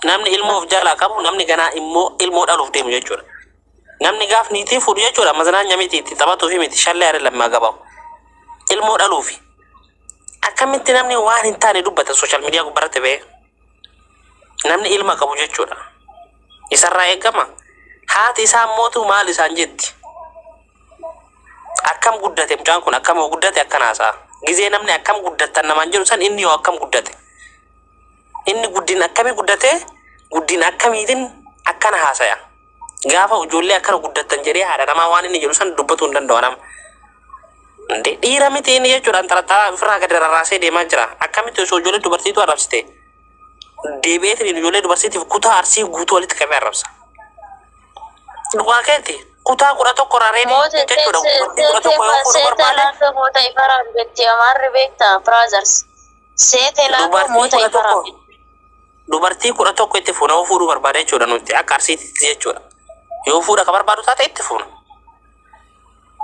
Namni ilmoo of jalaa qabu namni ganaa immoo ilmoo dhaluuf deemu jechuudha. Namni gaaf niitii fuudhu jechuudha mazanaanya miti itti taphatuufi miti shallee haree lammaa gabaa'u. Ilmoo dhaluufi. Akkamitti namni waan hin taane dubbata sooshaal miidiyaa gubbarratti ba'ee. Namni ilma qabu jechuudha. Isarraa eegama. Haati isaa mootu maal isaan jetti. Akkam guddate mucaan kun akkam yoo guddate akkan haasa'a. Gizee namni akkam guddattan namaan jedhu san inni yoo akkam guddate. Inni guddin akkamii guddatee guddin akkamiitin akkana haasaya. Gaafa ijoollee akkana guddattan jedhee haadha namaa waan inni jedhu san dubbatuu hin danda'u nama. Inde dhiira miti inni jechuudhaan xaraxaraa ofirraa gadi rarraasee deemaa jira. Akkamitti osoo ijoollee dubartiitu arrabsite deebi'eetiin ijoollee dubartiitiif kutaa arsii guutuu walitti qabee arrabsa. Dhugaa keetti kutaa kudha tokko irraa reebii Moota jechuudha. Dubartii kudha tokko yoo fuudhu barbaade seetaan akka moota ifaraan beekti amaarri beekta brothers. seete naa koo Dubartii moota kudha ifa tokko rabbi. dubartii kudha tokko itti fuuna yoo fuudhuu barbaada jechuudha nuti akka arsiititti jechuudha. Yoo fuudha ka barbaadu taate itti fuuna.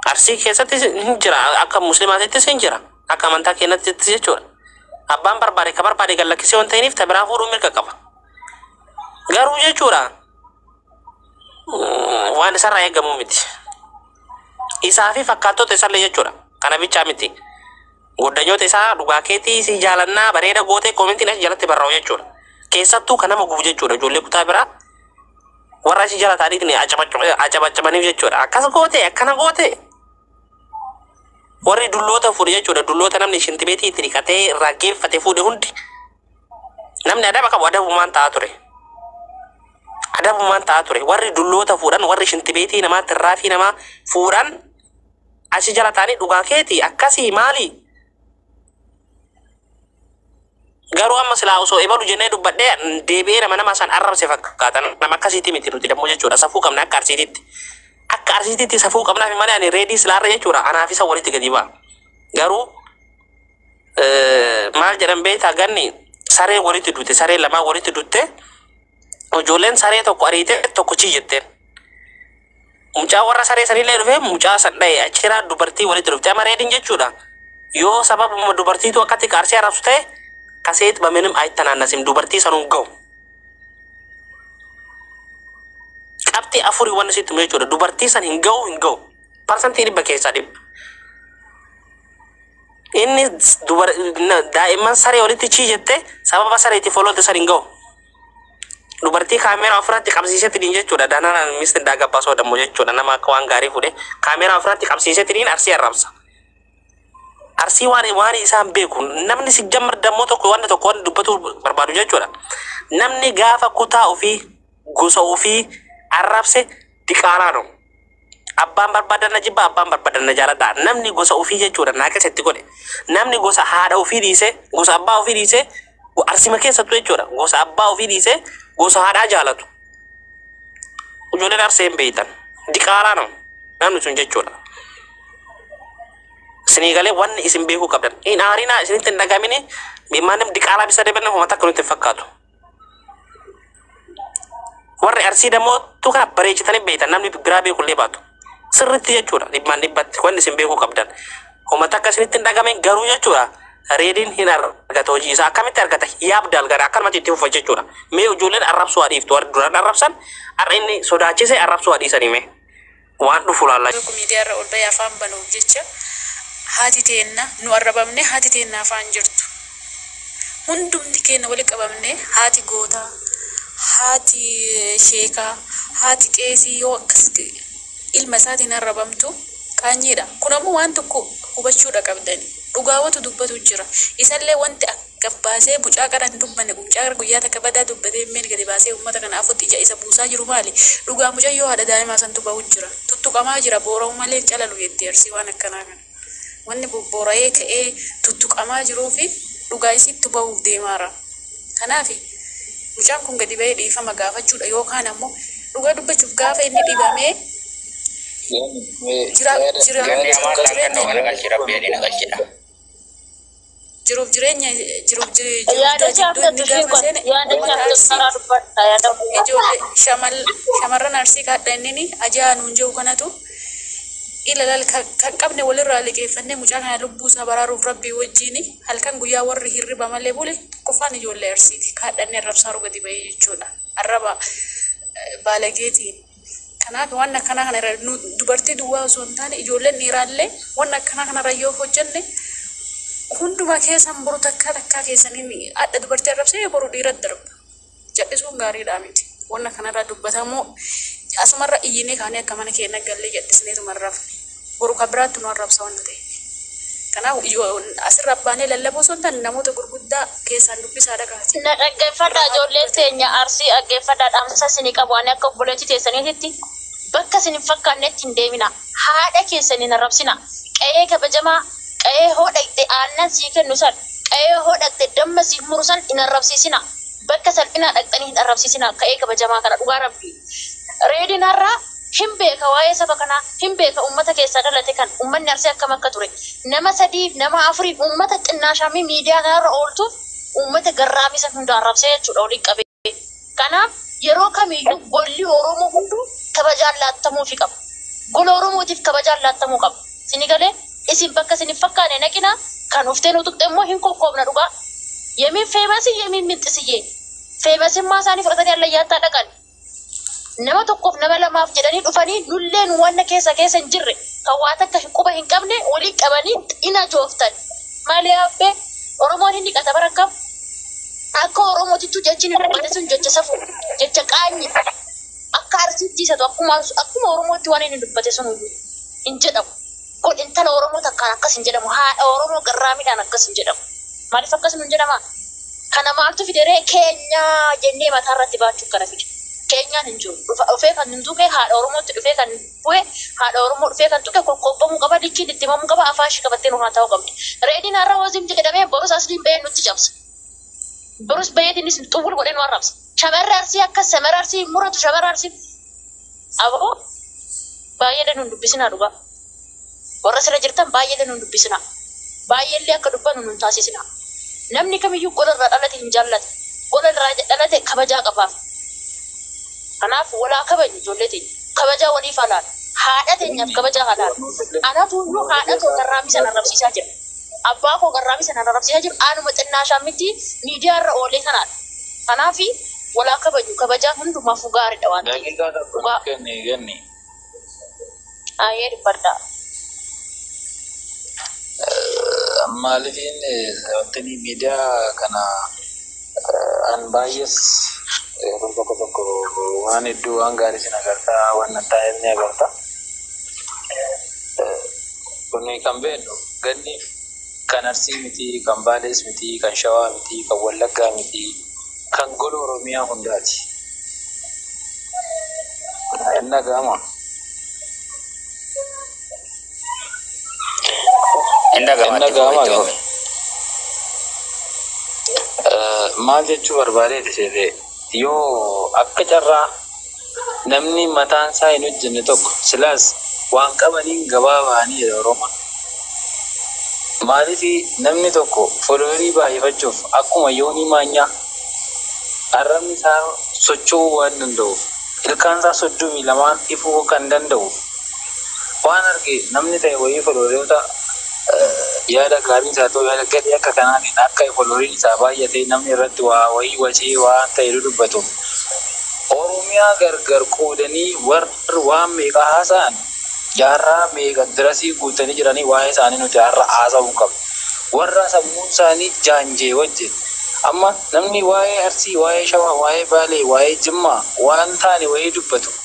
Arsii keessattis hin jira akka muslimaatittis hin jira akka amantaa keenyattis jechuudha. Abbaan barbaade ka barbaade gad lakkisee waan ta'iniif ta biraa fuudhuu mirga qaba. Garuu jechuudha mm, waan isarraa eegamu miti. Isaa fi fakkaattota isallee jechuudha. Kana bichaa miti. Goddanyota isaa dhugaa keetii sii jaalannaa bareeda gootee komentiin achi jalatti barra'u jechuudha. Keessattuu kan nama gubu jechuudha ijoollee kutaa biraa warra achi jala taa'aniitiin acabacabaniif jechuudha. Akkas gootee akkana gootee warri dulloota fuudhe jechuudha dulloota namni shintibeetii itti dhiqatee irraa geeffate fuudhe hundi namni adaba qabu adabumaan ta'a ture. Adabumaan ta'a ture warri dulloota fuudhan warri shintibeetii namaatti irraafii namaa fuudhan Achi jala taanii dhugaa keeti akkasii maali? Garuu amma silaa osoo ebalu jennee dubbadhee deebi'ee nama nama san arrabse fakkaata. Nama akkasiitti miti nuti dammoo jechuudha. Safuu qabna akka arsiititti. Akka arsiititti safuu qabnaaf malee ani reedii silaarra jechuudha. Anaaf isa walitti gadi ba'a. Garuu eh, maal jedhan beektaa ganni saree walitti dutte saree lamaa walitti dutte ijoolleen saree tokko ariite tokko chii jetteen. Mucaa warra saree sanillee dhufee mucaa san dhaye achiraa dubartii walitti dhufte ama reedin jechuudha yoo sababuma dubartiitu akkatti kaarsee arabsu ta'e kaseet baminim aytanaannasim dubartii sanuun ga'u qabxii afurii wanni sitti himu jechuudha dubartii san hin ga'u hin ga'u parsantii dhibba keessaa dhibba inni dubar daa'imman saree walitti chii jette sababa sareetti foloolte san hin ga'u dubartii kaameeraa ofirratti qabsiisetiniin jechuudha dananaan misti indaa gabbaa soodammoo jechuudha nama akka waan gaarii fuudhe kaameeraa ofirratti qabsiisetiniin arsii arrabsa arsii waan waan isaan beeku namni si jammar dammoo tokko wanta tokko waan dubbatu barbaadu jechuudha namni gaafa kutaa ofii gosa ofii arrabse diqaalaa dha. Abbaan barbaadan na jibba, abbaan barbaadan na jaaladha. Namni gosa ofii jechuudha naa keessa itti godhe. Namni gosa haadha ofii dhiisee, gosa abbaa ofii dhiisee, go- arsima keessattuu jechuudha. Gosa abbaa ofii dhiisee, gosa haadhaa jaalatu. Ijoolleen arsee hin beektan. Diqaalaa nama. Namni sun jechuudha. Isinii galee wanni isin beekuu qabdan. Hin aarinaa isinitti hin dhagamini. Maanim diqaalaa bisa deebiin homa takka nutti hin fakkaatu. Warri arsii dammoo tu kana bareechitanii beektan namni biraa beekullee baatu. Sirriitti jechuudha dhibbaan dhibbatti wanni isin beekuu qabdan. Homa takka isinitti hin dhagame garuu jechuudha reediin hin argata hojii isaa akkamitti argata yaab dalgara akkanumatti itti fufa jechuudha. Mee ijoolleen arrabsuu haa dhiiftu warri duraan arrabsan har'a inni sodaachise arrabsuu haa dhiisanii mee. waan dhufu laalla. Tokko miidiyaarra ol bahee afaan banuuf jecha haati teenna nu arrabamnee haati teenna afaan jirtu. Hundumti keenna wali qabamnee haati gootaa, haati sheekaa, haati qeesii yoo akkas ilma isaatiin arrabamtu qaanyiidha. Kun ammoo waan tokko hubachuudha qabdani. Dhugaawatu dubbatu jira. Isallee wanti akka. gad baasee mucaa qara hin dubbanne kun mucaa qara guyyaa takka badaa dubbatee hin beekne gadi baasee ummata kana afotti ija isa buusaa jiru maali? Dhugaa mucayyoo haadha daa'imaa santu bahu jira. Tuttuqamaa jira boora'u malee hin calalu jetti Arsii waan akkanaa kana. Wanni bobboora'ee ka'ee tuttuqamaa jiruufi dhugaa isiittu bahuuf deemaara. Kanaaf mucaan kun gadi bahee dhiifama gaafachuudha yookaan ammoo dhugaa dubbachuuf gaafa inni dhibamee jira jira Gandi amaan jiru kan kan ta'u jireenya garagalchi rabbi ani na galchidha. jiruuf jireenya jiruuf jiruudha jidduu inni gaafa seene uummata arsii ijoollee shamarran arsii kaadha innini ajaa nuun jiru kanatu ilalal kan qabne walirraa liqeeffannee mucaa kana lubbuu isaa baraaruuf rabbii wajjiin halkan guyyaa warri hirriba malee bule tokkoffaan ijoollee arsiiti kaadhannee rabsaaru gadi ba'ee jechuudha. arraba baalageetiin kanaaf waan akkanaa kana irra nu dubartii duwwaa osoo hin taane ijoolleen dhiiraallee waan akkanaa kana irra yoo hojjenne hunduma keessan boru takkaa takkaa keessaniin adda dubartii arrabsee boru dhiira darba jal'isuun gaariidhaa miti waan akkanarraa dubbatamuu asumarra iyyinee kaanee akka mana keenya gallee jal'isneetuma hin rafne. boru kan biraatti nu arrabsa wanta ta'eef. Kanaaf asirraa baanee lallabuu osoo hin taane namoota gurguddaa keessaan dubbisaa dhagahaa. Na dhaggeeffadhaa ijoolleen teenya Arsii dhaggeeffadhaa dhaamsa isinii qabu ani akka obboleettii teessaniititti bakka isin hin fakkaannetti hin deeminaa haadha keessan hin arrabsinaa qa'ee kabajamaa qa'ee hoo dhaqxe aannan sii kennu san qa'ee hoo dhaqxe damma siif muru san hin arrabsiisinaa bakka salphinaa dhaqxanii hin arrabsiisinaa qa'ee kabajamaa kana dhugaa rabbii reediin har'aa hin beeka waa'ee saba kanaa hin beeka ummata keessaa dhalate kan ummanni arsii akkam akka ture nama sadiif nama afuriif ummata xinnaashaamii miidiyaa kanarra ooltuuf ummata garraamii san hunda arrabsee jechuudha waliin qabee kanaaf yeroo kamiiyyuu golli oromoo hunduu kabajaan laattamuufi qaba gola oromootiif kabajaan laattamuu qaba sini galee isin bakka isin hin fakkaane naqina kan uftee nu tuqxe immoo hin kokkoobna dhugaa yemin feemasi yemin minxisiyyee feemasimmaa isaanii fudhatanii allayyaattaa dhaqan Nama tokkoof nama lamaaf jedhanii dhufanii nullee nu wanna keessa keessa hin jirre kan waa takka hin quba hin qabne waliin qabanii xina jooftan. Maali abbee Oromoon hin dhiqata bara akkam akka Oromootittu jechi ni dhiqata sun jecha safu jecha qaanyi akka arsiitti isatu akkuma akkuma Oromootti waan inni dubbate sun hin jedhamu. Kun intala Oromoo takkaan akkas hin jedhamu. Haadha Oromoo garraamiidhaan akkas hin jedhamu. Maaliif akkas nuun jedhama? Kana maaltu fide ree? Keenya jennee mataa irratti baachuun kana fide. Keenyaan hin jiru. Dhufa dhufee kan hin tuqe haadha Oromootti dhufee kan bu'e haadha Oromoo dhufee kan tuqe kokkoobamuu qaba, likkiin itti himamuu qaba, afaan ishii qabattee nu haata'uu qabdi. Reediin har'a Oozim jedhamee borus Asliin ba'ee nutti cabsa. Borus ba'eetiinis xuwwul godhee nu arrabsa. Shamarri Arsii akkas shamarri Arsii hin muratu shamarri Arsii aboo baay'ee illee nu hin dubbisinaa dhugaa warra sirra jirtan baay'ee illee nu hin dubbisinaa baay'ee illee akka dubbanu nu hin taasisinaa namni kamiyyuu gola irraa dhalate hin jaallata gola irraa dhalate kabajaa qabaaf kanaaf walaa kabajnu ijoollee teenya kabajaa waliif haa laannu haadha teenyaaf kabajaa haa laannu anatu iyyuu haadha too tarraammisan arrabsiisaa jira Abbaa koo kan Raamii sanaan arrabsiisaa jiru anuma xinnaashaan miti miidiyaa irra oolee kanaadha. Kanaaf wal haa kabajnu. Kabajaan hundumaafuu gaariidha waan ta'eef. Daqiiqaa tokko nuuf Dhugaa. kenni Ganni. Hayyee dubbadhaa. Maalifiin wantinii miidiyaa kana eh, an baay'ees yeroo tokko tokko waan hedduu waan gaarii sin agartaa waan nan taa'eef ni agarta. Kun kan beeknu ganni kan Arsii miti, kan Baalees miti, kan Shawaa miti, kan Wallaggaa miti, kan gola Oromiyaa hundaati. Hin dhaga'amaa? Hin dhaga'ama itti fufa itti fufa. Maal jechuu barbaadee itti seetee? Yoo akka carraa namni mataan isaa hin hojjenne tokko silaas waan qabaniin gabaa bahanii jedha Oromoon. Maaliif namni tokko folowerii baay'ifachuuf akkuma Yoonii Maanyaa arrabni isaa socho'uu waan danda'uuf, ilkaan isaa soddomii lamaan ifuu kan danda'uuf, Waan arge namni ta'e wayii follower yoo ta, e yaada gaariis haa ta'u yaada gadhee akka kanaatiin akka followeriin isaa baay'atee namni irratti waa wayii wacee waan ta'e dudubbatuuf Oromiyaa gargar qoodanii warri waan meeqa haasa'an jaarraa meeqa dirasii guuttanii jiranii waa'ee isaanii nuti har'a haasa'uu qabna. Warra sammuun isaanii jaanjee wajjin amma namni waa'ee Arsii, waa'ee Shawaa, waa'ee Baalee, waa'ee Jimmaa waan taane wayii dubbatu.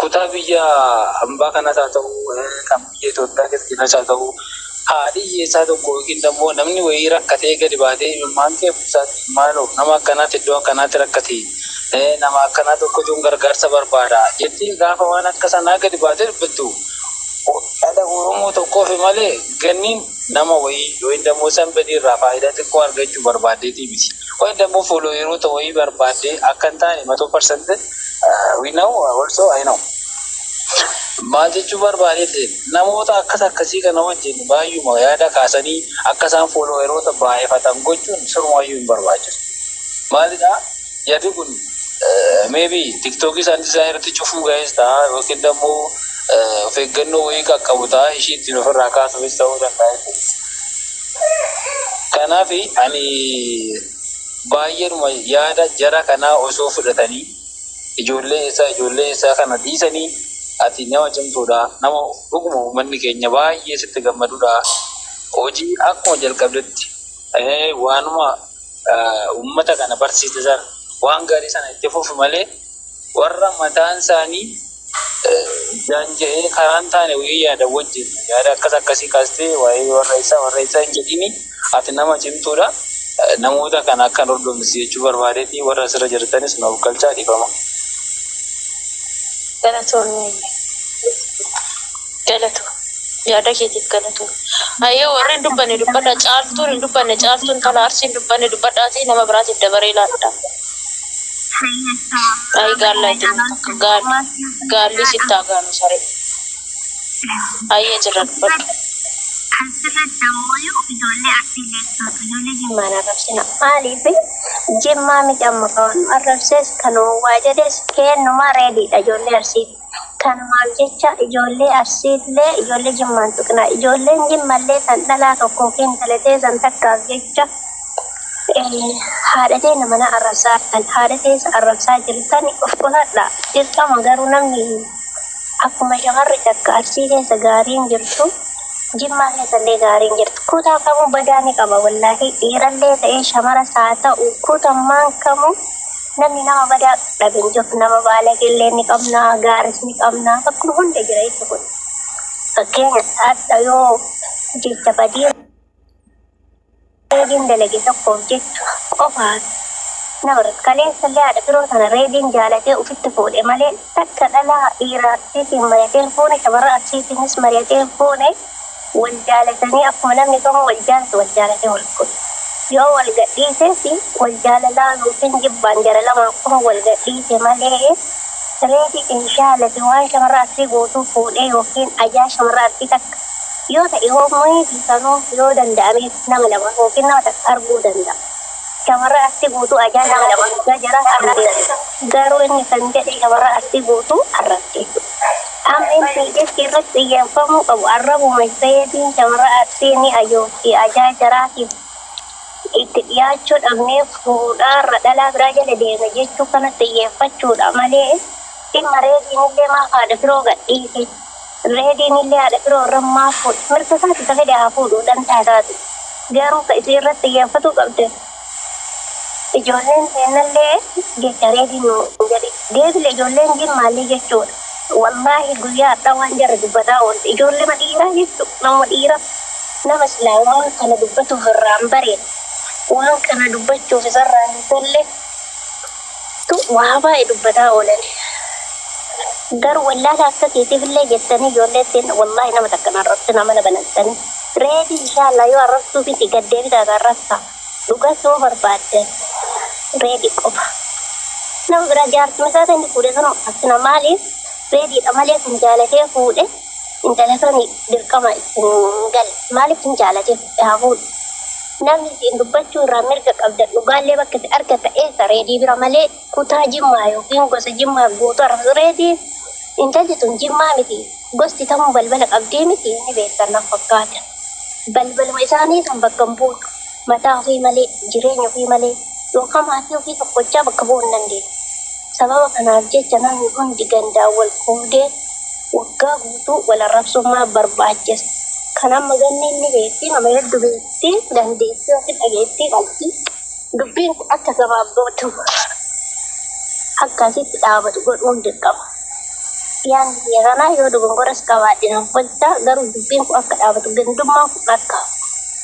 kutaa biyya ambaa kanas haa ta'u, kan biyya Itoophiyaa keessas haa ta'u, haadhi hiyyeessaa tokko yookiin immoo namni wayii rakkatee gadi baatee imimmaan kee buusaatii maaloo nama akkanaatti iddoo akkanaatti rakkate, nama akkanaa tokkotuun gargaarsa barbaada jettiin gaafa waan akka sanaa gadi baatee dubbattu dhala Oromoo tokkoofi malee ganniin nama wayii yookiin immoo sanbadii irraa faayidaa xiqqoo argachuu barbaaddeetii miti. Yookiin immoo foolooyeroota wayii barbaaddee akka hin taane 100% We know also I know. Maal jechuu barbaadeetti namoota akkas akkasii kana wajjin baay'uma yaada kaasanii akka isaan foolooweroota baay'ifatan gochuun sirumaayyuu hin barbaachisu. Maalidhaa yaadi kun meebii tiktookii isaan isaa irratti cufuu ga'ees ta'a yookiin immoo of eeggannoo wayii qaqqabu ta'a ishii ittiin ofirraa kaasuufis ta'uu danda'a. Kanaaf ani Baay'eedhuma yaada jara kanaa osoo fudhatanii ijoollee eessaa ijoollee eessaa kana dhiisanii ati nama cimtuudha nama dhuguma uummanni keenya baay'ee sitti gammaduudha hojii akkuma jalqabdetti eh, waanuma eh, uummata kana barsiiste sana waan gaarii sana itti fufi malee warra mataan isaanii daanja'ee karaa hin taane wayii yaada wajjin yaada akkas akkasii kaastee waa'ee warra isaa warra isaa hin jedhini ati nama cimtuudha namoota kana akka hin hordofnis jechuu barbaadeeti warra asirra jirtanis na ofkalchaa dhifama. Galatoomii galatoo yaada keetiif galatoo. Ayyee warri hin dubbanne dubbadha caaltuun hin dubbanne caaltuun tala arsii hin dubbanne dubbadhaatii nama biraatiif dabaree laadha. Ay gaalla itti takka gaalli gaalli sitti haa gaanu saree. Ayyee jirra dubbadhu. Mana rabsina maaliif jimmaa miti amma kawan arrabsees kan waa jedhees keennumaa reediidha ijoollee arsiiti. Tanumaaf jecha ijoollee Arsiillee ijoollee Jimmaan tuqna. Ijoolleen Jimmallee tan dhalaa tokko yookiin intala teessan takkaaf jecha haadha teenna manaa arrabsaa jirtan, haadha teessan arrabsaa jirtan of qusadhaa. Dirqama garuu namni akkuma shamarri takka Arsii keessa gaariin jirtu Jimmaa keessallee gaariin jirti. Kutaa kamuu badaa ni qaba wallaahii dhiirallee ta'ee shamaras haa ta'u kutammaan kamuu Namni nama badaa dhabe hin jiru. Nama baalagee illee ni qabna, gaaris ni qabna. Bakkuma hunda jira jechi kun. Fakkeenya hadha yoo jecha badii reebiin dalage tokkoof jechu qofaan nama irratti kaleessa illee haadha firoo sana reebiin jaalatee ofitti fuudhe malee takka dhalaa dhiiraa arsiitiin mari'atee hin fuune shamarran arsiitiinis mari'atee hin fuune. Wal jaalatanii akkuma namni tokko wal jaalatu wal jaalatee wal fuudhe. Yoo wal gadhiises wal jaalalaan ykn jibbaan jara lamaa qofa wal gadhiise malee reeti inshaala fi waan shamarra arsii gootuu fuudhee ykn ajaa shamarra arsii takka yoo ta'e hoo mayiifi sanuu yoo danda'ameef nama lama ykn nama takka arguu danda'a. Shamarra arsii guutuu ajaa nama lama argaa jara arrabse. Garuu inni kan jedhe shamarra arsii guutuu arrabse. MNPS irratti xiyyeeffamuu qabu arrabuma Isseeyeetiin shamarra Arsii ni ajoofti, ajaa jaraatiif itti dhiyaachuu dhabnee fuudhaarra dhalaa biraa jala deemna jechuu kanatti xiyyeeffachuudha malee dhimma Reediinillee maaf haadha firoo gadhiise, Reediinillee haadha firoo irra maaf fuudhe, mirga isaati ka fedhe haa fuudhu dantaa isaati. Garuu ka isiin irratti xiyyeeffatuu qabde. Ijoolleen teennallee jecha reedii nuun jedhi. Deebile ijoolleen jin maallii jechuudha. Wallaahi guyyaa hardhaa waan jarri dubbataa oolte ijoollema dhiiraa jechu namuma dhiira nama silaa waan kana dubbatuuf irraan bareeda waan kana dubbachuuf isarraa hin tolle tu waa baay'ee dubbataa oolan garu wallaala akka kiitiif illee jettanii ijoollee ittiin wallaahi nama takkan arrabsina mana banattanii reedi inshaallaa yoo arrabsuu fiti gad deebitaa ta arrabsa dhugas yoo barbaaddan reedi qofa nama biraa jaartuma isaa ta'e inni fuudhe sun akkasina maaliif reediidha malee kan jaalatee fuudhe Intala sani dirqama itti hin gale maalif hin jaalate fudhe haa fuudhu namni isiin dubbachuu irraa mirga qabda dhugaallee bakka itti argata eessa reedii bira malee kutaa jimmaa yookiin gosa jimmaa guutu arrabsu reedii intalti tun jimmaa miti gosti tamuu balbala qabdii miti ni beektan na fakkaata balbaluma isaanii san bakka hin buutu Mataa ofii malee, jireenya ofii malee yookaan maatii ofii tokkochaa bakka bu'uu hin dandeenye. Sababa kanaaf jecha namni hundi gandaan wal qoodee waggaa guutuu wal arrabsuun maaf barbaachise? Kan amma ganneen ni beekti, nama heddu beekti, dandeettii yookiin dhageettii qabdi. Dubbiin kun akka gabaabbatu, akka asitti dhaabatu godhuun dirqama. Yaanni kiyya kana, yoo dogongoras qabaadhe naaf wayta, garuu dubbiin kun akka dhaabatu, gandummaan kun akka hafu.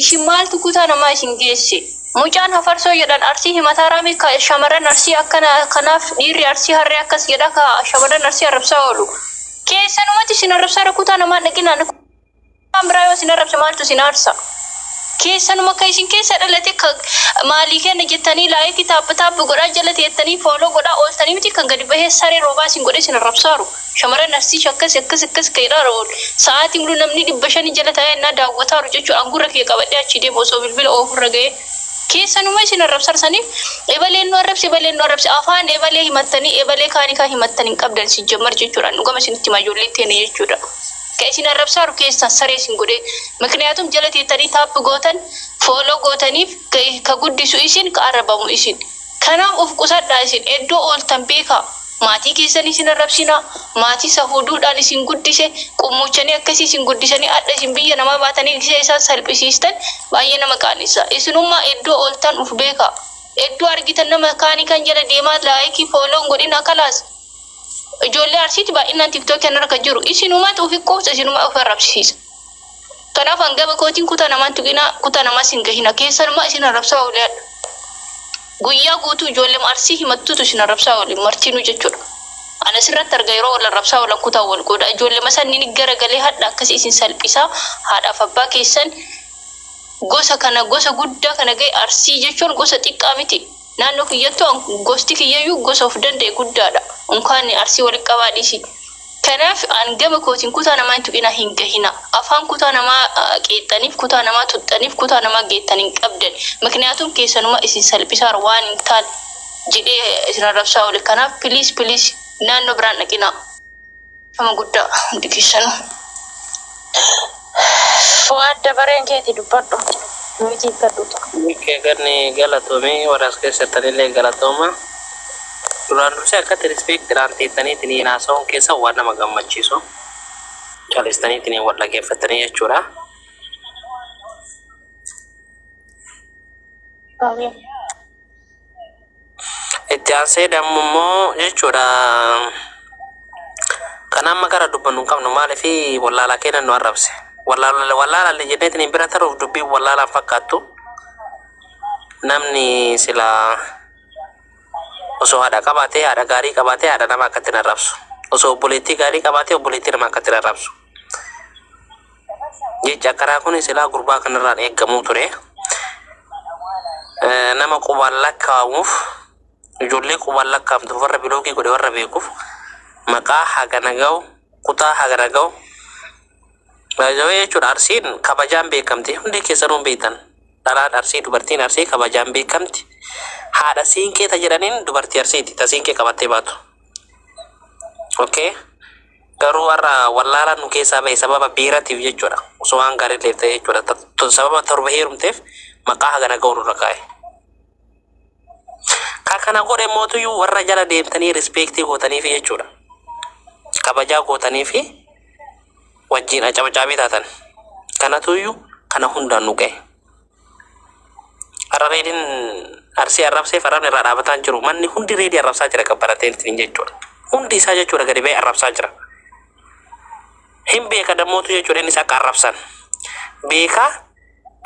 Ishi maaltu kutaa namaa isin geesse? Mucaan hafarsoo jedhan arsii himataa raamii ka shamarran arsii akkana kanaaf dhiirri arsii harree akkas jedha ka shamarran arsii arrabsaa oolu. Keessanumatti isin arrabsaara kutaa namaa hin dhaqinaan kutaan biraa yoo isin arrabse maaltu isin aarsa? Keessanuma ka isin keessa dhalate ka maalii kenna jettanii laayikii taappi taappi godhaa jala teettanii fooloo godhaa ooltanii miti kan gadi bahee saree roobaa isin godhee isin arrabsaaru. Shamarran Arsii shakkasi akkas akkas ka'e dhaara oolu. Sa'aatii mulu namni dhibba shanii jala taa'ee annaa daawwataaru jechuu an gurra kiyya qabadhee achii deemu osoo bilbila oofurra ga'ee. Keessanuma isin arrabsar saniif ebaleen nu arrabse ebaleen nu arrabse afaan ebalee himattanii ebalee kaani kaa himattan hin qabdan sijjammar jechuudha an dhugama isinitti hima ijoolleen teena jechuudha ka isin arrabsaaru keessan saree isin godhee mikniyaatum jala teettanii taap gootan fooloo gootaniif ka guddisu isin ka arrabamu isin kanaaf uf qusadhaa isin eddoo ooltan beekaa Maatii keessanii isin arrabsinaa, maatii sahuuduudhaan isin guddise, qummuuchanii akkasii isin guddisanii adha isin biyya namaa baatanii gisee isaan salphisiistan baay'ee nama qaanessaa. Isinummaa eddoo ooltan uf beekaa. Eddoo argitan nama kaanii kan jala deemaa like follow hin godhinaa kalaas. Ijoollee Arsiiti baay'innaan tiktoki kanarra kan jiru. Isinumatu ufi quufsa isinuma ufi arrabsisiisa. Kanaaf an gama kootiin kutaa namaa hin tuqinaa, kutaa namaas hin gahinaa. Keessanumaa isin arrabsaa oole hadha. Guyyaa guutuu ijoollema Arsii himattutu isin arrabsaa oole, martinuu jechuudha. An asirratti arga yeroo wal arrabsaa oolan kutaan wal qooda. Ijoollema sannini gara galee hadha akkasi isin salphisaa, haadhaaf abbaa keessan gosa kana gosa guddaa kana gahe Arsii jechuun gosa xiqqaa miti. Naannoo kiyyattu an gosti kiyyayyuu gosa of danda'e guddaadha. Unkaan Arsii walitti qabaa dhiisi. Kanaaf an gama kootiin kutaa namaa hin tuqinaa hin gahinaa. Afaan kutaa namaa qeexxaniif, kutaa namaa tuxxaniif, kutaa namaa geettan hin qabdani. Mikniyaatuun keessanuma isin salphisaara waan hin taane jedhee isin arrabsaa oole. Kanaaf please please naannoo biraan dhaqinaa. Nama guddaa hundi keessanu. Fuwaad dabareen keeti dubbadhu. Nuyitii hikkadhu taa. Mikkee ganni galatomi warra as keessa jirtanillee galatooma. Duraan dursee akkatti rispiiktiidhaan teettaniitiin haasa'uun keessan waan nama gammachiisu. Calistaniitiin wal dhageeffattanii jechuudha. Amin. Itti aansee dammu immoo jechuudha kan amma gara dubbannu hin qabnu maaliif wallaalaa keenya nu arrabse. Wallaalaan jenneetiin hin bira taruuf dubbii wallaalaan fakkaattu namni silaa osoo haadha qabaatee haadha gaarii qabaatee haadha nama akkatti hin arrabsu. Osoo obboleettii gaarii qabaatee obboleettii nama akkatti hin arrabsu. Jechi akkanaa kun silaa gurbaa kanarraan eegamuu ture. Eh, Nama qubaan lakkaa'amuuf ijoollee qubaan lakkaa'amtu warra biloogii godhe warra beekuuf maqaa hagana ga'u kutaa hagana ga'u baay'ee jechuudha arsiin kabajaan beekamti hundi keessanuu hin beektan dhalaan arsii dubartiin arsii kabajaan beekamti haadha siinqee ta jedhaniin dubartii arsiiti ta siinqee qabattee baatu. Okay. Garuu har'a wallaalaan nu keessaa ba'e sababa beeratiif jechuudha. Osoo waan gaariitiif ta'e jechuudha. Ta- to- Sababa torba heerumteef maqaa hagana ga'u nurra kaa'e. Kan kana godhe mootuyyuu warra jala deemtanii rispeektii gootaniifi jechuudha. Kabajaa gootaniifi wajjin acabacaabii taatan. Kanatuyyuu kana hundaan nu ga'e. Har'a reediin arsii arrabseef arrabni irraa dhaabataa hin jiru. Manni hundi reedii arrabsaa jira kan baratee ittiin jechuudha. Hundi isaa jechuudha gadi ba'ee arrabsaa jira. Hin beeka dammootu jechuudha innis akka arrabsan. Beekaa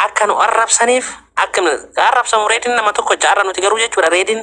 akka nu arrabsaniif akka nu arrabsamu reediin nama tokko jaarra nuti garuu jechuudha reediin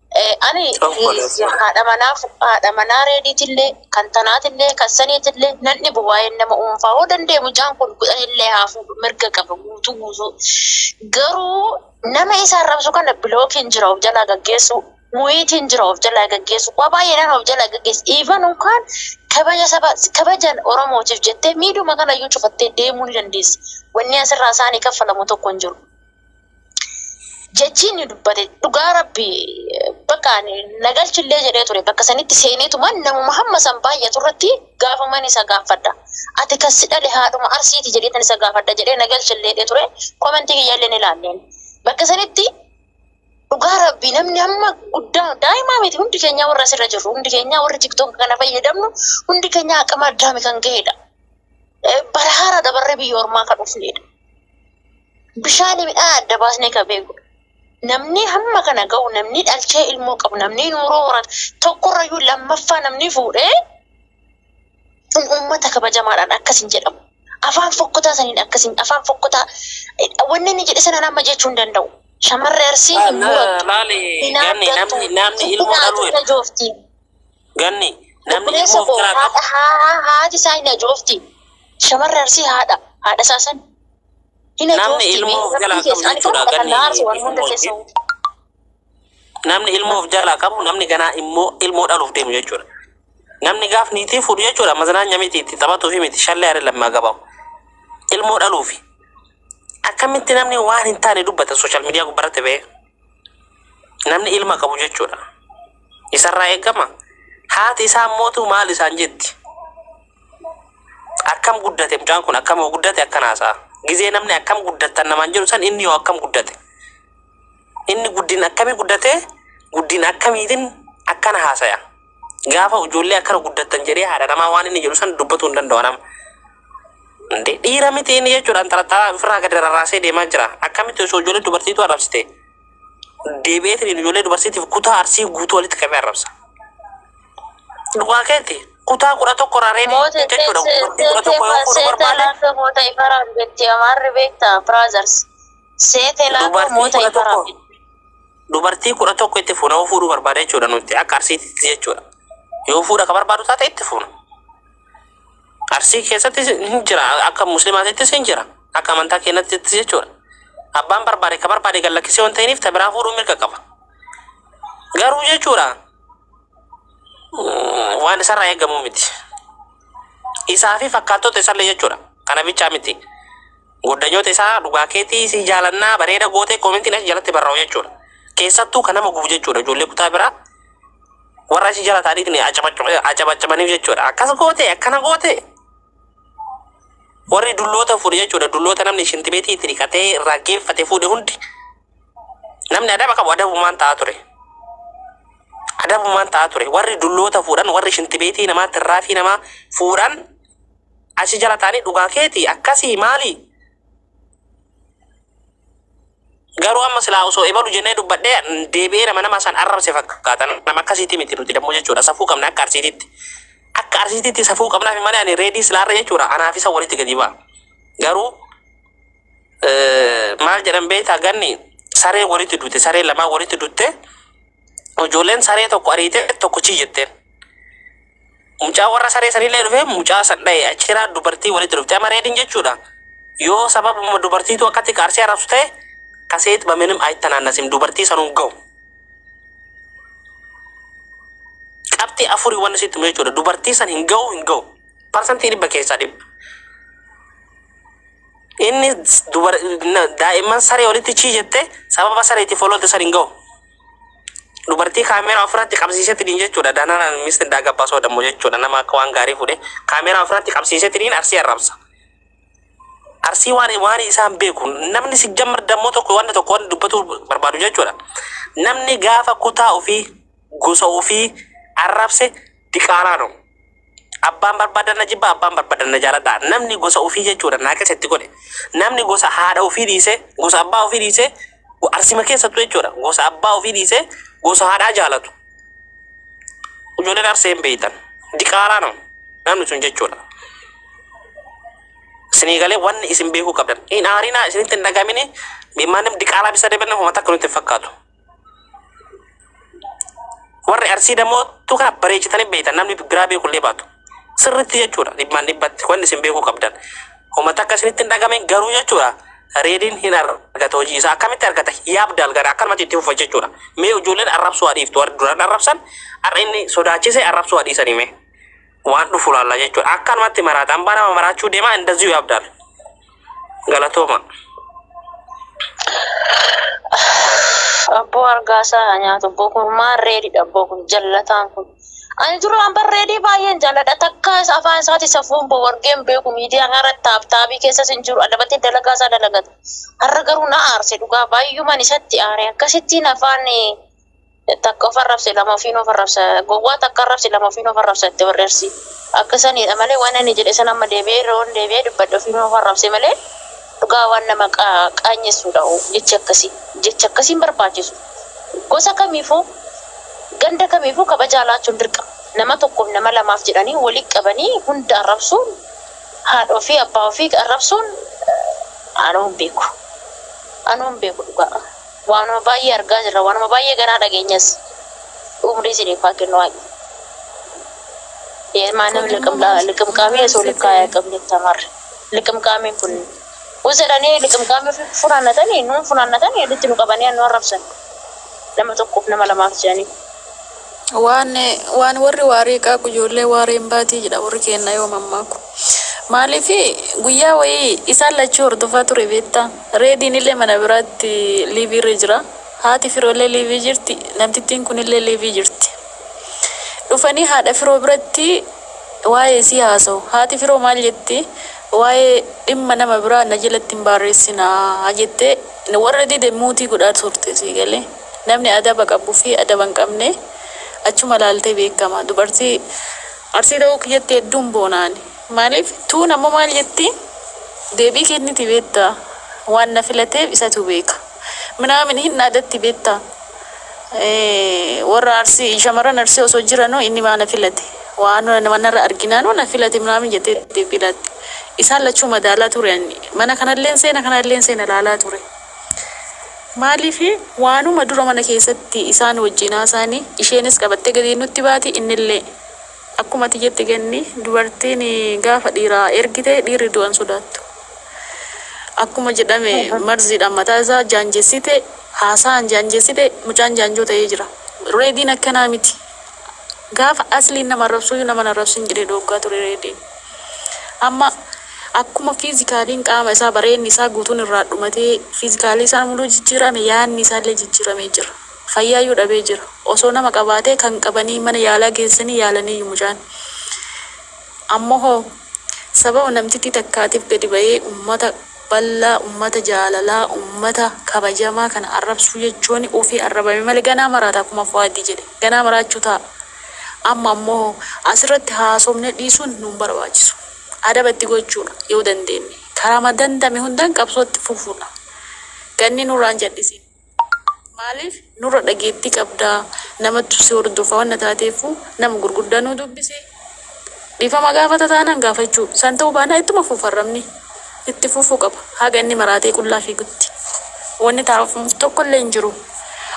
Ani haadha manaa haadha manaa reediitillee kan tanaatillee kan saniitillee nan dhibu waa'een nama dhuunfaa hoo danda'e mucaan kun kudhanillee haa fuudhu mirga qaba guutuu guutuu garuu nama isa arrabsu kana bilookiin jira of jalaa gaggeessu muyiitiin jira of jalaa gaggeessu waa baay'eedhaan of jalaa gaggeessu even unkaan kabaja saba kabaja oromootiif jettee miidhuma kana iyyuu cufattee deemuu ni dandeessi wanni asirraa isaanii kaffalamu tokko hin jiru. jechii inni dubbate dhugaa rabbi bakka ani na galchillee jedhee ture bakka sanitti seeneetuma namuma hamma san baay'atu irratti gaafaman isa gaafadha. Ati kan si dhale haadhuma arsiiti jedheetan isa gaafadha jedhee na galchillee jedhee ture komentii kiyyaallee ni ilaalleen. Bakka sanitti dhugaa rabbi namni hamma guddaa daa'imaa miti hundi keenyaa warra asirra jirru hundi keenyaa warri tiktook kana fayyadamnu hundi keenyaa aqama addaami kan ga'edha. Bara haaraa dabarree biyya ormaa kan dhufnedha. bishaanii midhaan adda baasnee kan beekudha. Namni hamma kana ga'u namni dhalchee ilmoo qabu namni nuuroo horatu tokkorrayyuu lammaffaa namni fuudhee kun uummata kabajamaadhaan akkas hin jedhamu. Afaan fokkotaa saniin akkas hin afaan fokkotaa wanni inni jedhe sanaan amma jechuu hin danda'u. Shamarree arsii hin murattu. Laali Hin ganni haaddattu. namni namni Hin ilmoo haadhu dhaluudha. ajoofti. Ganni namni Obboleessa ilmoo koo biraa qabu. haadha haa- haa- haati isaa hin ajoofti. Shamarree arsii haadha. Haadha isaa san Namni ilmoo of jalaa qabu jechuudha ganni ilmoo Namni ilmoo of jalaa qabu namni ganaa immoo ilmoo dhaluuf deemu jechuudha. Namni gaaf niitii fuudhu jechuudha mazanaanya miti itti taphatuufi miti shallee haree lammaa gabaa'u. Ilmoo dhaluufi. Akkamitti namni waan hin taane dubbata sooshaal miidiyaa gubbarratti ba'ee. Namni ilma qabu jechuudha. Isarraa eegama. Haati isaa mootu maal isaan jetti? akkam guddate mucaan kun akkam yoo guddate akkan haasa'a gizee namni akkam guddattan namaan jedhu san inni yoo akkam guddate inni guddin akkamii guddate guddin akkamiitin akkana haasaya gaafa ijoollee akkana guddattan jedhee haadha namaa waan inni jedhu san dubbatuu hin danda'u nama Ande dhiira miti inni jechuudhaan xaraxaraa ofirraa gadi rarraasee deemaa jira akkamitti osoo ijoollee dubartiitu arrabsite deebi'eetiin ijoollee dubarsiitiif kutaa arsii guutuu walitti qabee arrabsa. Dhugaa keetti kutaa kudha tokko irraa reebii Moota jechuudha. Dubartii kudha tokko yoo fuudhu barbaade Seeteelaafee moota ifaraaf jetti amaarri beekta brothers. Seeteelaafee dubartii moota kudha ifaraaf. tokko dubartii kudha tokko itti fuuna yoo fuudhuu barbaade jechuudha nuti akka arsiititti jechuudha. Yoo fuudha ka barbaadu taate itti fuuna. Arsii keessatti hin jira akka muslimaatittis hin jira akka amantaa keenyattis jechuudha. Abbaan barbaade ka barbaade gad lakkisee waan ta'iniif ta biraa fuudhuu mirga qaba. Garuu jechuudha mm, waan isarraa eegamu miti. Isaa fi fakkaattota isallee jechuudha. Kana bichaa miti. Goddanyoota isaa dhugaa keetii si jaalannaa bareeda gootee koomentiin as jalatti barraa'u jechuudha. Keessattuu kan nama gubu jechuudha ijoollee kutaa biraa warra si jalataaniitiin acabacabaniif jechuudha. Akkas goote akkana goote warri dulloota fuudhe jechuudha. Dulloota namni shintibeetii itti dhiqatee irraa geeffate fuudhe hundi namni adaba qabu adabumaan ta'aa ture. Adabumaan ta'aa ture. Warri dulloota fuudhan warri shintibeetii namaa tirraafii namaa fuudhan achi jalataanii dhugaa keeti akkasii maali? Garuu amma silaa osoo ebalu jennee dubbadhee deebi'ee nama nama san arrabse fakkaata. Nama akkasiitii miti nuti dammoo jechuudha. Safuu qabna akka arsiititti. Akka arsiititti safuu qabnaaf malee ani reedii silaa irra jechuudha. Anaaf isa walitti gadi ba'a. Garuu maal jedhan beektaa ganni saree walitti duute saree lamaa walitti duute ijoolleen saree tokko ariite tokko chii jetteen. Mucaa warra saree sanillee dhufee mucaa san dhaye achiraa dubartii walitti dhufte ama reedin jechuudha yoo sababuma dubartiitu akkatti kaarsee arabsu ta'e kaseet baminim aytanaannasim dubartii sanuu ga'u qabxii afurii wanni sitti himu jechuudha dubartii san hin ga'u hin ga'u parsantii dhibba keessaa dhibba inni dubar daa'imman saree walitti chii jette sababa sareetti foloote san hin ga'u Dubartii kaameeraa ofirratti qabsiisetiniin jechuudha. Dananaan misti indaa gabbaa soodammoo jechuudha. Nama akka waan gaarii fuudhee kaameeraa ofirratti qabsiisetiniin arsii arrabsa. Arsii waan waan isaan beeku namni si jammar dammoo tokko waan tokko waan dubbatu barbaadu jechuudha. Namni gaafa kutaa ofii gosa ofii arrabse diqaalaa dha. Abbaan barbaadan na jibba, abbaan barbaadan na jaaladha. Namni gosa ofii jechuudha naa keessa itti godhe. Namni gosa haadha ofii dhiisee, gosa abbaa ofii dhiisee, go- arsima keessattuu jechuudha. Gosa abbaa ofii dhiisee, gosa haadhaa jaalatu. Ijoolleen arsee hin beektan. Diqaalaa nama. Namni sun jechuudha. Isinii galee wanni isin beekuu qabdan. Hin aarinaa isinitti hin dhagamini. Maannim diqaalaa bisa deebiin nama takka nutti hin fakkaatu. Warri arsii dammoo tu kana bareechitanii beektan namni biraa beeku illee baatu. Sirriitti jechuudha dhibbaan dhibbatti wanni isin beekuu qabdan. Uummata akka isinitti hin dhagame garuu jechuudha reediin hin argata hojii isaa akkamitti argata yaabda algara akkanumatti itti fufa jechuudha. Mee ijoolleen arrabsuu haa dhiiftu warri duraan arrabsan har'a inni sodaachisee arrabsuu haa dhiisanii mee. waan dhufu laalla jechuudha. Akkanumatti maraata. Ambaa nama maraachuu deema indaziyu yaabdaal. Galatooma. Abboo argaasaa haa nyaatu. Abboo kun maal reedidha abboo kun jallataan kun. Ani duraan bar reedii baay'een jaalladha. Takka isa afaan isaati safuun boo wargeen beeku miidiyaa kana irratti taaptaabii keessas hin jiru. Adabatee dalagaa isaa dalagata. Har'a garuu na aarse dhugaa baay'uman isatti aare. Akkasittiin afaan eh, Takka of arrabse lama ofiin of arrabsa. Gowwaa takka arrabse lama ofiin of arrabsa itti barreersi. Akka saniidha malee waan ani jedhe san amma deebi'ee irra waan deebi'ee dubbadhe ofiin of arrabse malee dhugaa waan nama qaanyessuudha jechi akkasii. Jechi akkasii hin barbaachisu. Gosa kamiifuu ganda kamiifuu kabajaa laachuun dirqama. Nama tokkoof nama lamaaf jedhanii walitti qabanii hunda arrabsuun haadha ofii abbaa ofii arrabsuun anuu hin beeku. Anuu hin beeku dhugaa. Waanuma baay'ee argaa jirra, waanuma baay'ee ganaa dhageenyas. Umrii isiniif haa kennu Waaqni. Yee maanim Koodammoo liqimqaa- maal liqimqaamii maal osoo siif likkaayaa godhan? qabni tamarri. Liqimqaamiin kun us jedhanii liqimqaamii ofii funaannatanii nuun funaannatanii walitti nu qabanii nu arrabsan. Nama tokkoof nama lamaaf jedhanii. Waan, waan warri waarii qaaqu ijoollee waaree hin baatii jedha warri keenna yoo mammaaku. Maaliif guyyaa wayii isaan lachuu hordofaa ture beetta. Reediin illee mana biraatti liivii irra jira. Haati firoo illee liivii jirti. Namtittiin kun illee liivii jirti. Dhufanii haadha firoo biratti waa'ee isii haasa'u. Haati firoo maal jetti? Waa'ee dhimma nama biraa na jalatti hin baarreessinaa jettee warra dide muutii godhaa turte sii galee. Namni adaba qabu fi adaba hin qabne achuma ilaaltee beekama. Dubartii Arsii ta'uu kiyyatti hedduun boona ani. Maaliif tuun ammoo maal jetti deebii kenniti beektaa waan na filateef isatu beeka. Minaamin hin dhaadatti beektaa warra Arsii shamarran Arsii osoo jiranuu inni maa na filate waan manarra arginaanuu na filate minaamin jettee deebii laatti. Isaan lachuu madaalaa ture ani mana kanalleen seena kanalleen seena ilaalaa ture. Maaliif? Waanuma dura mana keessatti isaan wajjin haasaani, isheenis qabattee gadi nutti baati, innillee. Akkuma ati jette Ganni, dubartiin gaafa dhiira ergite dhiirri du'a hin sodaattu. Akkuma jedhame marziidhaan mataa isaa jaanjessite, haasaan jaanjessite, mucaan jaanjoo ta'ee jira. Reediin akkanaa miti. Gaafa asliin nama arrabsuuyyuu nama hin arrabsin jedhee dhooggaa ture Reediin. Amma akkuma fiizikaaliin qaama isaa bareenni isaa guutuun irraa dhumatee fiizikaalii isaa muluu jijjiirame yaanni isaallee jijjiiramee jira. Fayyaayyuu dhabee jira. Osoo nama qabaatee kan qabanii mana yaalaa geessanii yaalaniiyyu mucaan. Ammoo hoo. Sababa namtittii takkaatiif gadi bahee ummata bal'aa, ummata jaalalaa, ummata kabajamaa kana arrabsuu jechuun ufii arrabame malee ganaa maraata akkuma Fu'aadi jedhe. Ganaa maraachuu ta'a. Amma ammoo asirratti haasofne dhiisuun nu hin barbaachisu. Adaba itti gochuudha yoo dandeenne. Karaama danda'ame hundaan qabsoo itti fufuudha. Ganni nurraa hin jal'isiin. Maaliif nurra dhageettii qabda? Namatu si hordofa wanna taateefuu nama gurguddaa nuu dubbisi. Dhiifama gaafata taanaan gaafachuu, san ta'uu baanaan ittuma fufa arrabni. Itti fufuu qaba haga inni maraatee qullaa fiigutti. Wanni taa'amu tokkollee hin jiru.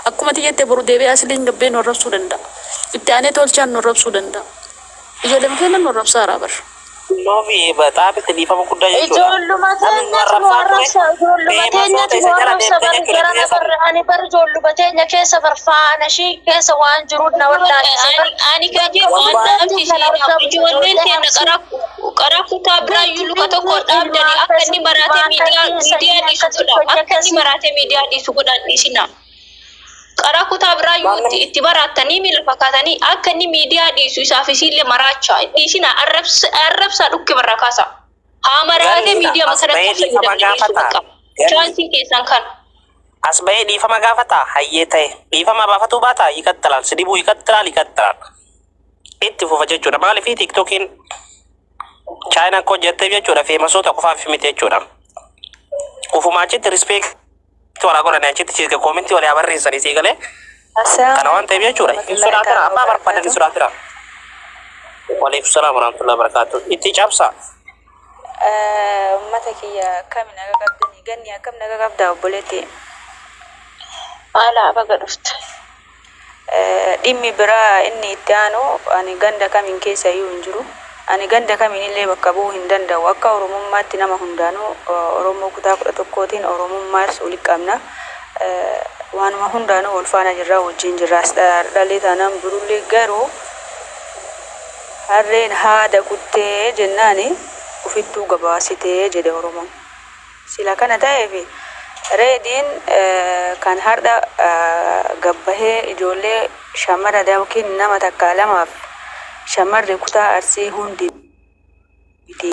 Akkuma ati jette boru deebi'ee Asliin gabbee nu arrabsuu danda'a. Itti aanee Tolchaan nu arrabsuu danda'a. Ijoolleema keenya nu arrabsaara bar. Loofi xaafitti dhiifama guddaa jechuudha. Ijoolluma Namni nu teenyatu nu arrabsaa arrabsa. ture Ijoolluma beeman teenyatu soota nu isa jala arrabsa. deemte Bari jechuudha garana biyya barra ani bari ijoolluma teenya keessa bar faana ishii keessa waan jiru na wallaalchise. Ani ani kan jedhu waan dhaabsi ishee dhaabdu ijoolleen keenya qara qara kutaa biraayyuu luka tokko dhaabdani akka inni maraatee miidiyaa miidiyaa dhiisu godha. Akka inni maraatee miidiyaa dhiisu godhan dhiisina. Qaraa kutaa biraa yoo itti, itti baraattanii miila fakkaatanii akka inni miidiyaa dhiisu isaaf isiillee maraacha. Dhiisina arrabsa, arrabsaa dhukkee barraa kaasa. Haa maraatee miidiyaa makana akka fayyadamne dhiisu bakka. Chaansiin keessan kana. As bahee dhiifama gaafata hayyee ta'e dhiifama baafatuu baata yikattalaal si dhibuu yikattalaal yikattalaal itti fufa jechuudha maaliif tiiktokiin chaayinaa koo jetteef jechuudha feemasoota qofaaf miti jechuudha ufumaa achitti rispeek Toora godhani achitti siika koomintii walii habarreessanii sii galee kana waan ta'eef jechuudha. Hin sodaatira abbaa barbaadan hin sodaatira. Waliif salaam warahmatullahi wabarakatuh. Itti cabsaa. Uummata kiyya akkami naga qabdanii ganni akkam naga qabdaa obboleetti. Haala abaga dhufte. Dhimmi biraa inni itti aanu ani ganda kamiin keessa iyyuu hin jiru. Ani ganda kamiin illee bakka bu'uu hin danda'u. Akka Oromummaatti nama hundaanuu Oromoo kutaa 11tiin Oromummaa ibsu walitti qabna. Waanuma hundaanuu wal faana jirra, wajjin jirraas. Dhaallee taanaan birullee garuu harreen haada kuttee jennaani ufittuu gabaasitee jedhe Oromoon. Sila kana taheefi Reediin kan hardha gad bahee ijoollee shammara ykn nama takkaa lamaaf shammarri kutaa Arsii hundi miti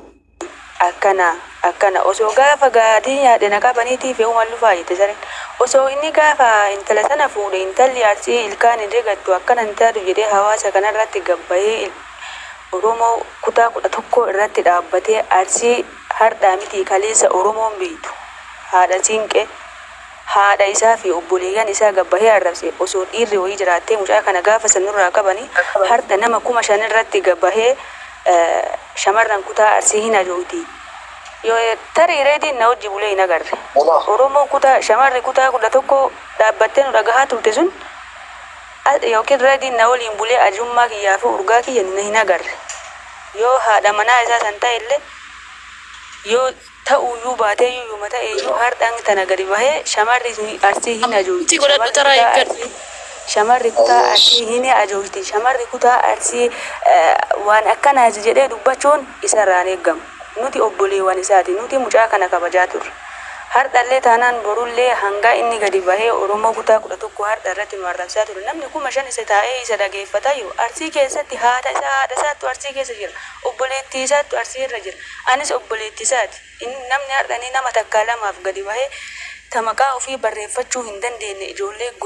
akkana akkana osoo gaafa gaatiin yaadde na qabaniitii fe'uman lufaa jette sareen. Osoo inni gaafa intala sana fuudhe intalli Arsii ilkaan hin rigattu akkana hin taatu jedhee hawaasa kanarratti gad bahee Oromoo kutaa 11 irratti dhaabbatee Arsii Hardhaa mitii kaleessa Oromoon beeytu haadha Siinqe haadha isaa fi obboleeyyan isaa gabbahee arrabse osoo dhiirri wayii jiraattee mucaa kana gaafa san nurraa qabani hardha nama kuma shan irratti gabbahee shamarran kutaa Arsii hin hajoowti yoo tarii reediin na wajji bulee hin agarre Oromoon kutaa shamarri kutaa kudha tokko dhaabbattee nu dhagahaa turte sun yookiin reediin na waliin bulee ajummaa kiyyaa fi urgaa kiyya nu hin agarre. Yoo haadha manaa isaa san ta'ellee yoo ta'uyyuu baateeyyuu yuma ta'eeyyuu hardha hanga tana gadi bahee shamarri Arsii hin ajoojti shamarri kutaa Arsii hin ajoojti shamarri kutaa Arsii waan akkanaati jedhee dubbachuun isarraa hin eeggamu. Nuti obboleewwan isaati nuti mucaa kana kabajaa turre. Hardhallee taanaan borullee hangaa inni gadi bahee Oromoo kutaa 11 hardha irratti nu arrabsaa ture namni 5000 isa taa'ee isa dhageeffatayyu Arsii keessatti haadha isaa haadha isaattu Arsii keessa jira obboleettii isaattu Arsii irra jira anis obboleetti isaati inni namni hardha inni nama takkaa lamaaf gadi bahee ta maqaa ofii barreeffachuu hin dandeenye ijoollee gosa